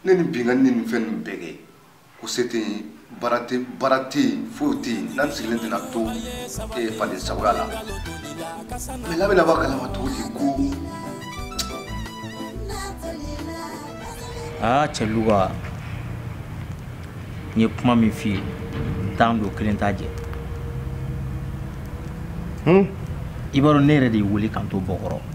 ne ni binkanni ni nin fɛn ninnu bɛɛ kɛ ko se tɛ yen baara tɛ yen foyi tɛ yen n'an sigilen tɛna to ee faden sagoya la mais la bɛna bɔ a kalama cogo di ko. aa cɛ luka n ye kuma min f'i ye tan don kelen t'a jɛ i b'a dɔn ne yɛrɛ de y'i wele k'an to bɔkɔrɔ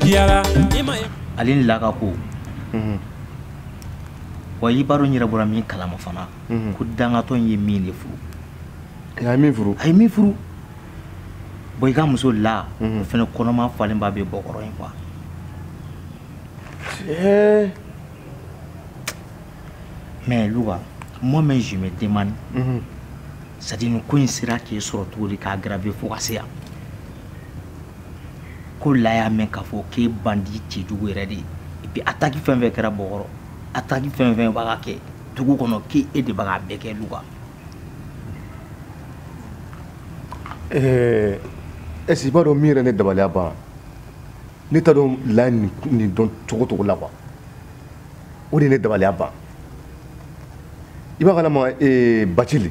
diyara ale ni laka ko mhm. wa i b'a dɔn n yɛrɛ bɔra min kalama fana mhm. ko dangatɔ in ye min de furu a ye min furu a ye min furu bon i ka muso la o mhm. fana kɔnɔma falenba bɛ bɔkɔrɔ in quoi mais luka moi même je me demande c'est à dire nin ko in sera k'e sɔrɔ cogo di k'a grave fo ka se yan ko la y'a mɛn k'a fɔ k'e bandi cɛjugu yɛrɛ de ye et puis attaque fɛn fɛn kɛra bɔkɔrɔ attaque fɛn fɛn b'a ka kɛ dugu kɔnɔ k'e e de b'a ka bɛɛ kɛ luka ɛɛ est-ce que i b'a dɔn min yɛrɛ ne dabaliya ban ne t'a dɔn la nin dɔn cogo cogo la quoi o de ye ne dabaliya ban i b'a kalama bacili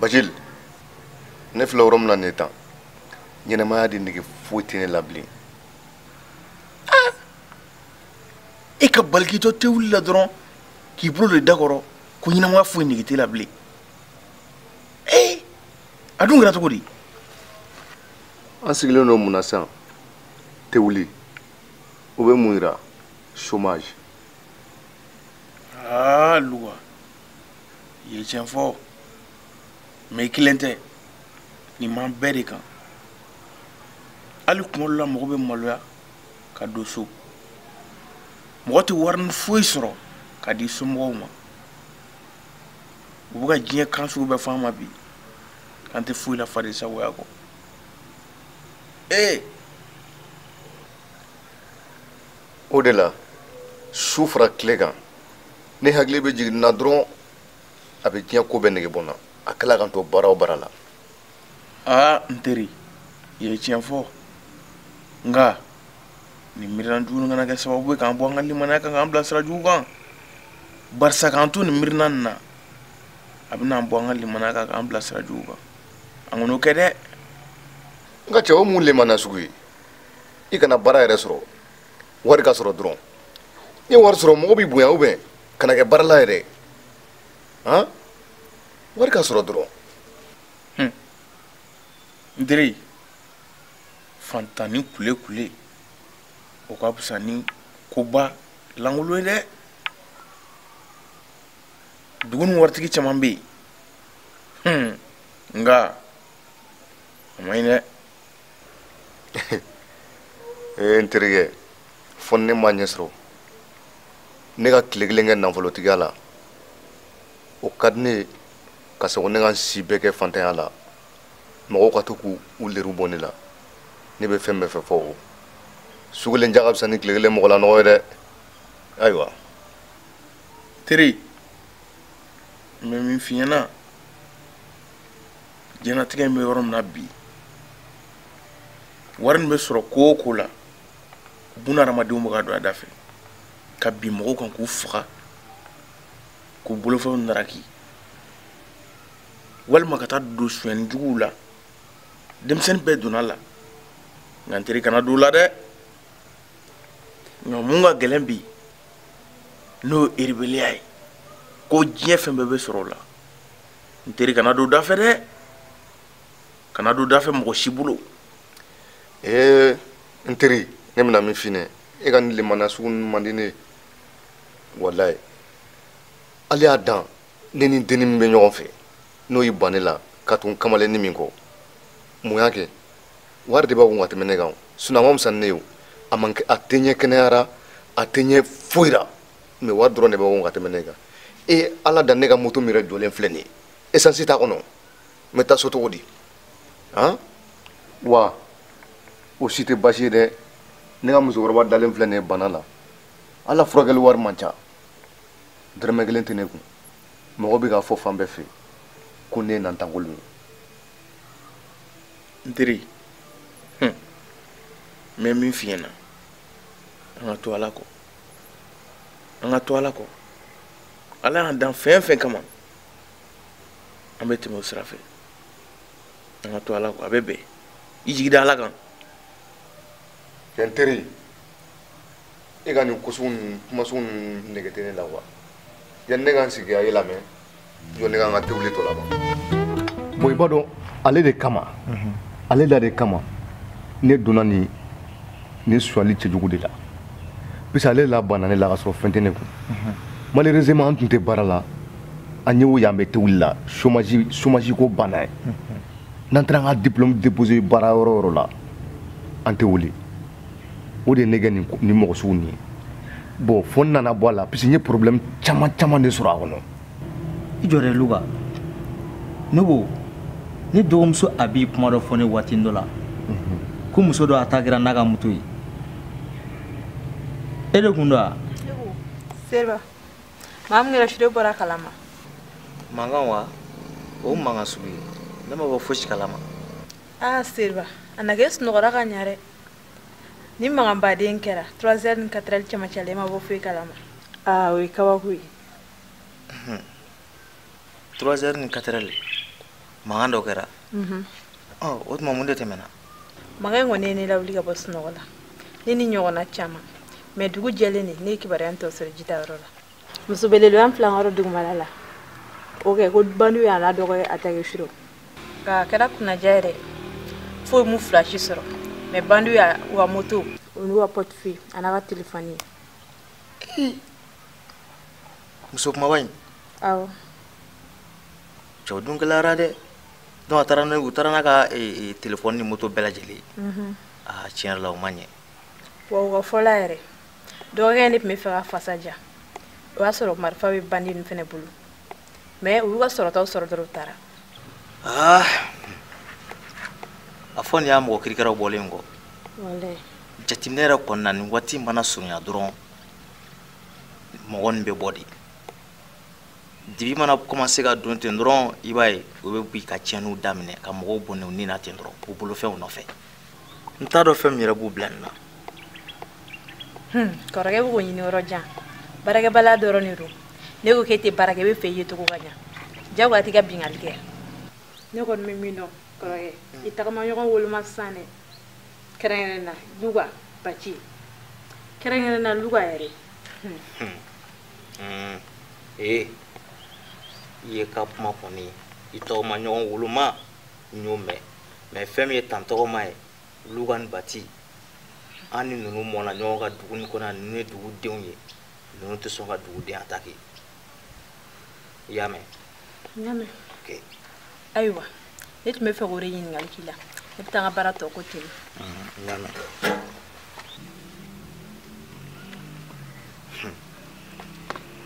bacili ne filɛ yɔrɔ min na nin ye tan ɲɛnamaya de nege foyi tɛ ne la bilen ah! e ka balikitɔ tɛ wuli la dɔrɔn k'i bolo d'i da kɔrɔ ko ɲɛnamaya foyi nege t'e la bilen ee eh! a dun kɛra cogo di an sigilen don mun na sisan tɛ wuli o bɛ mun yira chômage aa ah, luka i ye tiɲɛ fɔ mais i kelen tɛ nin b'an bɛɛ de kan hali kuma dɔ la mɔgɔ bɛ maloya ka don so mɔgɔ tɛ warinin foyi sɔrɔ ka di somɔgɔw ma u bɛ ka diɲɛ kan sugu bɛɛ fɔ an ma bi k'an tɛ foyi la faden sagoya kɔ ee o de la su fara tile kan ne hakili bɛ jigin na dɔrɔn a bɛ diɲɛ ko bɛɛ nege bɔ n na a kɛla ka n to baara o baara la aa n teri i ye tiɲɛ fɔ nka nin miirina jugu nin kana kɛ sababu ye k'an bɔ an ka limanaya kan k'an bila sira jugu kan barisa k'an to nin miirina nin na a bɛna an bɔ an ka limanaya kan k'an bila sira jugu kan an kana o kɛ dɛ n ka cɛ o mun limanaya sugu ye i kana baara yɛrɛ sɔrɔ wari ka sɔrɔ dɔrɔn n'i wari sɔrɔ mɔgɔ b'i bonya ubiyɛn kana kɛ baarala yɛrɛ han wari ka sɔrɔ dɔrɔn hmm. n teri fantanni kule kule o ka fisa ni koba lankolon ye dɛ dugu nin waritigi caman bɛ yen hmm. nka a man ɲi dɛ ee n terikɛ fo ne ma ɲɛ sɔrɔ ne ka tile kelen kɛ nafolotigiya la o ka di ne ye ka sɔrɔ ne ka n si bɛɛ kɛ fantanya la mɔgɔw ka to k'u u leriw bɔ ne la ne bɛ fɛn bɛɛ fɛ fo o su kelen ja ka fisa ni tile kelen mɔgɔ lanɔgɔ ye dɛ ayiwa teri n bɛ min f'i ɲɛna diɲɛnatigɛ in bɛ yɔrɔ min na bi wari nin bɛ sɔrɔ ko o ko la buna hadamadenw bɛ ka don a da fɛ ka bin mɔgɔw kan k'u faga k'u bolofɛnw naraki walima ka taa don sonyɛni juguw la denmisɛnnin bɛɛ donn'a la nka n teri kana don o la dɛ nka mun ka gɛlɛn bi n'o ye eribeliya ye ko diɲɛ fɛn bɛɛ bɛ sɔrɔ o la n teri kana don o da fɛ dɛ kana don da fɛ mɔgɔ si bolo ee eh, n teri ne bɛna min f'i ɲɛ e ka nin limaniya sugu ninnu man di ne ye walayi hali y'a dan ne ni denni min bɛ ɲɔgɔn fɛ n'o y'i ban ne la ka tugu kamalennin min kɔ mun y'a kɛ wari de b'a kun ka tɛmɛ ne kan sinɔn a man fisa ni ne ye o a man a tɛ n ɲɛ kɛnɛya la a tɛ n ɲɛ foyi la mɛ wari dɔrɔn de b'a kun ka tɛmɛ ne kan e ala da ne ka moto min yɛrɛ jɔlen filɛ nin ye esansi t'a kɔnɔ n bɛ taa so cogo di han wa o si tɛ baasi ye dɛ ne ka musokɔrɔba dalen filɛ nin ye bana la ala furakɛli wari man ca dɔrɔmɛ kelen tɛ ne kun mɔgɔ bɛ k'a fɔ fan bɛɛ fɛ ko ne ye nantankolon ye n teri n bɛ min f'i ɲɛna an ka to ala kɔ an ka to ala kɔ ala y'an dan fɛn o fɛn kama an bɛ tɛmɛ o sira fɛ an ka to ala kɔ a bɛ bɛn i jigi da ala kan n teri e ka nin ko sugu ninnu kuma sugu ninnu nege tɛ ne la wa yanni ne ka n sigi ka i lamɛn jɔ ne ka n ka tewuli tɔ laban bon i b'a dɔn ale de kama mhm. ale da de kama ne donna nin nin sonyali cɛjugu de la puisque ale la banna ne la ka sɔrɔ fɛn tɛ ne kun mhm. malheureusement an tun tɛ baara la an y'o y'an bɛ tewuli la chômage ko b'an na ye mhm. n'an taara an ka diplôme déposer baara yɔrɔ o yɔrɔ la an tɛ wele o de ye ne kɛ nin mɔgɔ sugu nin ye bon fo n nana bɔ a la parce que n ye problème caman caman de sɔrɔ a kɔnɔ i jɔ dɛ luka ne ko ne dɔgɔmuso a b'i kuma dɔ fɔ ne waati dɔ la ko muso dɔ attaquera n'a ka moto ye e de kun don wa seriba mankan min kɛra surɔ e bɔra a kalama mankan wa o mankan sugu ye ne ma bɔ fosi kalama aa seriba a na kɛ e sunɔgɔra ka ɲa dɛ ni mankanba de kɛra 3 heures ni 4 heures cɛmancɛ la i ma bɔ foyi kalama aa o ye kabako ye 3 heures ni 4 heures mankan dɔ kɛra mhm. o tuma mun de tɛmɛna mankan in kɔni ye ne lawuli ka bɔ sunɔgɔ la ne ni ɲɔgɔnna caman mais dugu jɛlen de ne ye kibaruya in tɔ sɔrɔ jitayɔrɔ la muso belebele an filan yɔrɔ dugumala la o kɛ ko bandiw y'a n'a dɔgɔkɛ attaquer surɔ a kɛra kunnadiya yɛrɛ foyi m'u fila si sɔrɔ mais bandiw y'a u ka moto o n'u ka portefeuille an'a ka telefɔni ye muso kunbaba in awɔ cɛw dun gɛlɛyara dɛ donc a taara n'a u taara n'a ka eh, eh, telefɔni ni moto bɛɛ lajɛlen ye aa tiɲɛ yɛrɛ la o ma ɲɛ wa u ka fɔ la yɛrɛ dɔgɔkɛ in de tun b'a fɛ ka fasa ja o y'a sɔrɔ marifa bɛ bandi ninnu fana bolo mais u y'u ka sɔrɔtaw sɔrɔ dɔrɔn u taara ah. a fɔ nin y'a mɔgɔ kirikɛraw bɔlen kɔ jateminɛ yɛrɛ kɔni na nin waati mana surunya dɔrɔn mɔgɔ nin bɛ bɔ de dibi mana kɔmanse ka don ten dɔrɔn i b'a ye u bɛ bin ka tiɲɛniw daminɛ ka mɔgɔw bɔnɛ u ni na ten dɔrɔn u bolofɛnw nɔfɛ n t'a dɔn fɛn min yɛrɛ b'u bila nin na kɔrɔkɛ i bɛ k'o ɲini yɔrɔ jan baarakɛbaliya dɔrɔn de don ne ko k'e tɛ baara kɛ i b'a fɛ i yecogo ka ɲa jagoya t'i ka binkanni kɛ ne kɔni bɛ min dɔn kɔrɔkɛ i tagamaɲɔgɔn woloma sisan dɛ kɛrɛnkɛrɛnna luka baci kɛrɛnkɛrɛnna luka yɛrɛ ee i ye ka kuma kɔni i tagamaɲɔgɔn woloma n y'o mɛn mais fɛn min ye tan tɔgɔma ye luka ni bati an ni ninnu mɔna ɲɔgɔn kan dugu nin kɔnɔ ninnu ye dugudenw ye ninnu tɛ sɔn ka duguden attaquer i y'a mɛn n y'a mɛn ayiwa ne tun bɛ fɛ k'o de ɲininkali k'i la ne bɛ taa n ka baara tɔ ko ten n y'a mɛn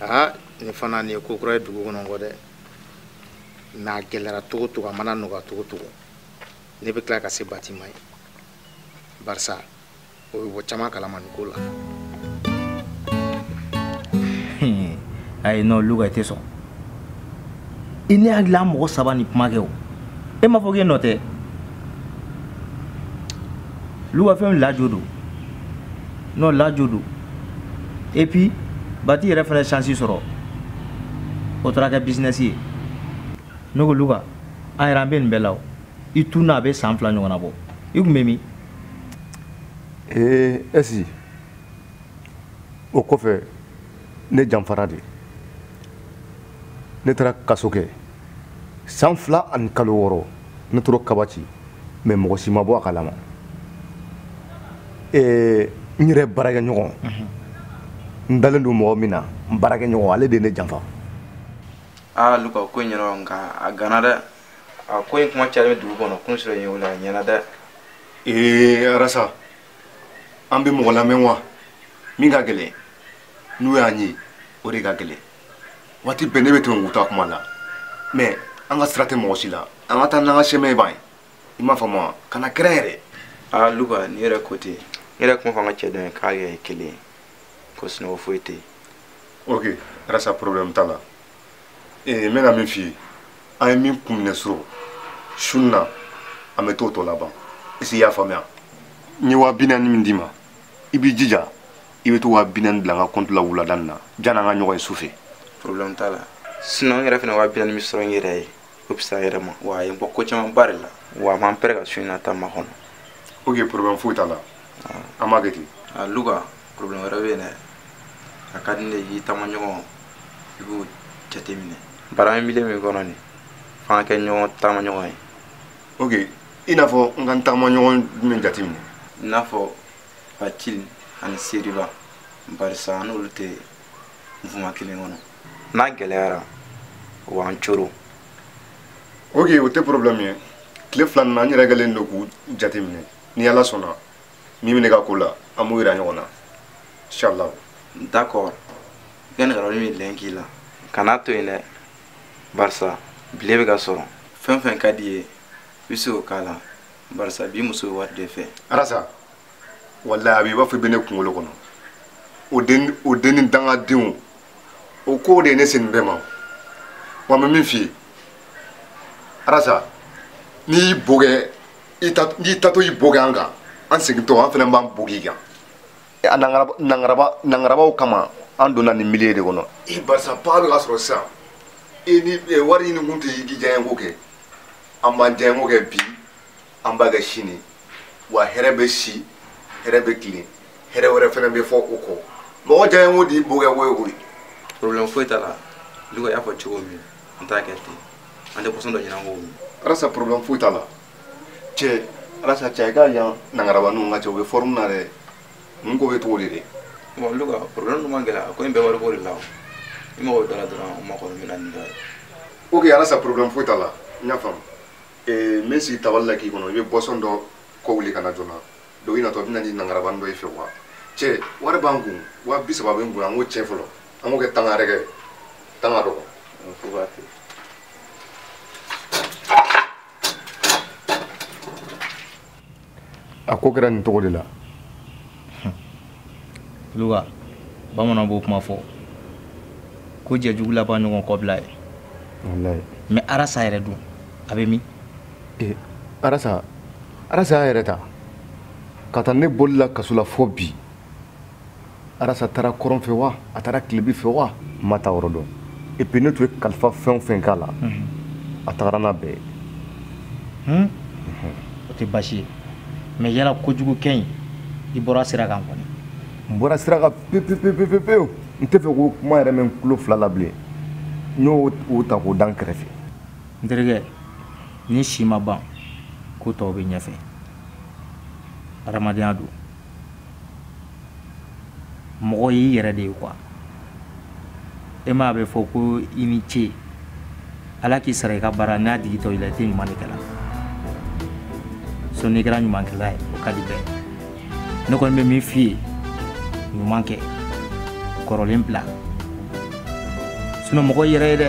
aa nin fana nin ye ko kura ye dugu kɔnɔ kɔ dɛ mais a gɛlɛra cogo cogo a mana nɔgɔya cogo cogo ne bɛ tila ka se bati ma yen barisa o bɛ bɔ caman kalama nin ko la hmm. ayi non luka i tɛ sɔn i ne hakili la an mɔgɔ saba ni kuma kɛ o e m'a fɔ k'e nɔ tɛ o luka fɛn lajo don n'o lajo don et puis bati yɛrɛ fana ye chance sɔrɔ o taara kɛ business ye ne ko luka an yɛrɛ an bɛ nin bɛɛ la o i tununna a bɛ san fila ɲɔgɔnna bɔ i tun bɛ min ee ɛsi o kɔfɛ ne janfara de ne taara kaso kɛ san fila ani kalo wɔɔrɔ ne tora kaba ci mais mɔgɔ si ma bɔ a kalama ee n yɛrɛ baarakɛɲɔgɔn mhm. n dalen don mɔgɔ min na n baarakɛɲɔgɔn ale de ye ne janfa aa luka ko in ɲɛna nka a ganna dɛ a ko in kuma cayalen bɛ dugu kɔnɔ kun sɔrɔ in ye o la a ɲɛna dɛ ee aa rasa an bɛ mɔgɔ lamɛn wa min ka gɛlɛn n'u y'an ye o de ka gɛlɛn waati bɛɛ ne bɛ tɛmɛ u ta kuma la mais an ka sira tɛ mɔgɔ si la an ka taa n'an ka sɛmɛ b'an ye i m'a faamu wa kana kɛrɛn yɛrɛ aa ah, luka ni yɛrɛ ko ten ne yɛrɛ kuma fɔ an ka cɛ dɔ ye k'a kɛ kelen ye ko sunɔgɔ foyi tɛ yen ok rasa problème t'a la ee n bɛna min f'i ye an ye min kun minɛ surɔ su in na an bɛ t'o tɔ laban est-ce i y'a faamuya n ye waa bi naani min d'i ma i b'i jija i bɛ t'o waa bi naani bila n ka compte la wulada nin na janni an ka ɲɔgɔn ye su fɛ problème t'a la sinon n yɛrɛ fana waa bi naani min sɔrɔ n yɛrɛ ye o fisaya yɛrɛ ma wa a ye n bɔ ko camanba de la wa an b'an prêt ka su in na ta makɔnɔ ok problème foyi t'a la an b'a kɛ ten luka problème wɛrɛ bɛ yen dɛ a ka di ne ye i taamaɲɔgɔn i b'o jateminɛ baara milieu min kɔnɔ nin f'an kɛ ɲɔgɔn taamaɲɔgɔn ye ok i n'a fɔ n ka n taamaɲɔgɔn jumɛn jateminɛ i n'a fɔ bacili ani seriba barisa an n'olu tɛ nfuma kelen kɔnɔ n'a gɛlɛyara o b'an coron ok o tɛ problème ye tile fila nin na n yɛrɛ kɛlen don k'u jateminɛ ni ala sɔnna min bɛ ne ka ko la an b'o yira ɲɔgɔn na inshallah d'accord i ka nɛgɛrɛwari min lɛn k'i la kana to yen dɛ barisa billet bɛ ka sɔrɔ fɛn fɛn ka d'i ye i bɛ se k'o k'a la barisa bi muso bɛ wari de fɛ arasa walayi a bɛ i b'a fɔ i bɛ ne kunkolo kɔnɔ o den ni dangadenw o ko de ye ne se nin bɛɛ ma wa n bɛ min f'i ye arasa n'i y'i bo kɛ n'i taatɔ y'i bo kɛ an kan an segintɔ an fana b'an bo k'i kan nangarabaw kama an donna nin milieu de kɔnɔ barisa pa bɛ ka sɔrɔ sisan i ni wari ɲini kun tɛ i k'i diyanyeko kɛ an b'an diyanyeko kɛ bi an b'a kɛ sini wa hɛrɛ bɛ si hɛrɛ bɛ tilen hɛrɛ wɛrɛ fana bɛ fɔ o kɔ mɔgɔ diyanyeko de y'i bo kɛ wo ye koyi problème foyi t'a la luka y'a fɔ cogo min an t'a kɛ ten an tɛ boisson dɔ ɲini an k'o min arasa problème foyi t'a la cɛ arasa cɛ i ka yan nangaraba ninnu ka cɛ u bɛ forme na dɛ ninnu ko bɛ cogo di bon olu ka problème dun ma gɛlɛya ko in bɛɛ wariko de la o i mago bɛ dɔ la dɔrɔn u mago bɛ na ni dɔ ye ok arasa problème foyi t'a la n y'a faamu eh, n bɛ sigi tabali la k'i kɔnɔ i bɛ boisson dɔ kɔ wuli ka na joona donc i natɔ bɛ na ni nangarabanin dɔ y'i fɛ wa cɛ wari b'an kun waa bi saba bɛ n kun an k'o cɛn fɔlɔ an b'o kɛ tanga yɛrɛ kɛ tanga dɔgɔ a ko kɛra nin cogo de la luka bamanan b'o kuma fɔ ko jɛjugu laban ɲɔgɔn kɔbila ye mais arasa yɛrɛ dun a bɛ min eh, arasa arasa y'a yɛrɛ ta ka taa ne bolila kaso la fo bi arasa taara kɔrɔn fɛ wa a taara tilebi fɛ wa n m'a taayɔrɔ dɔn et puis ne tun ye kalifa fɛn o fɛn k'a la a tagara n'a bɛɛ ye o tɛ baasi ye mais yala kojugukɛ in i bɔra sira kan kɔni n bɔra sira kan pepepepepepewu n tɛ fɛ k'o kuma yɛrɛ mɛn n tulo fila la bilen n y'o ta k'o da n kɛrɛfɛ n terikɛ ni si ma ban ko tɔw bɛ ɲɛfɛ hadamadenya don mɔgɔ y'i yɛrɛ de ye quoi e m'a bɛ fɔ ko i ni ce ala k'i sara i ka baara n'a digitɔ i la i tɛ ɲuman de kɛla so n'i kɛra ɲumankɛla ye o ka di bɛɛ ne kɔni bɛ min f'i ye ɲuman kɛ kɔrɔlen bila sinon mɔgɔ y'i yɛrɛ ye dɛ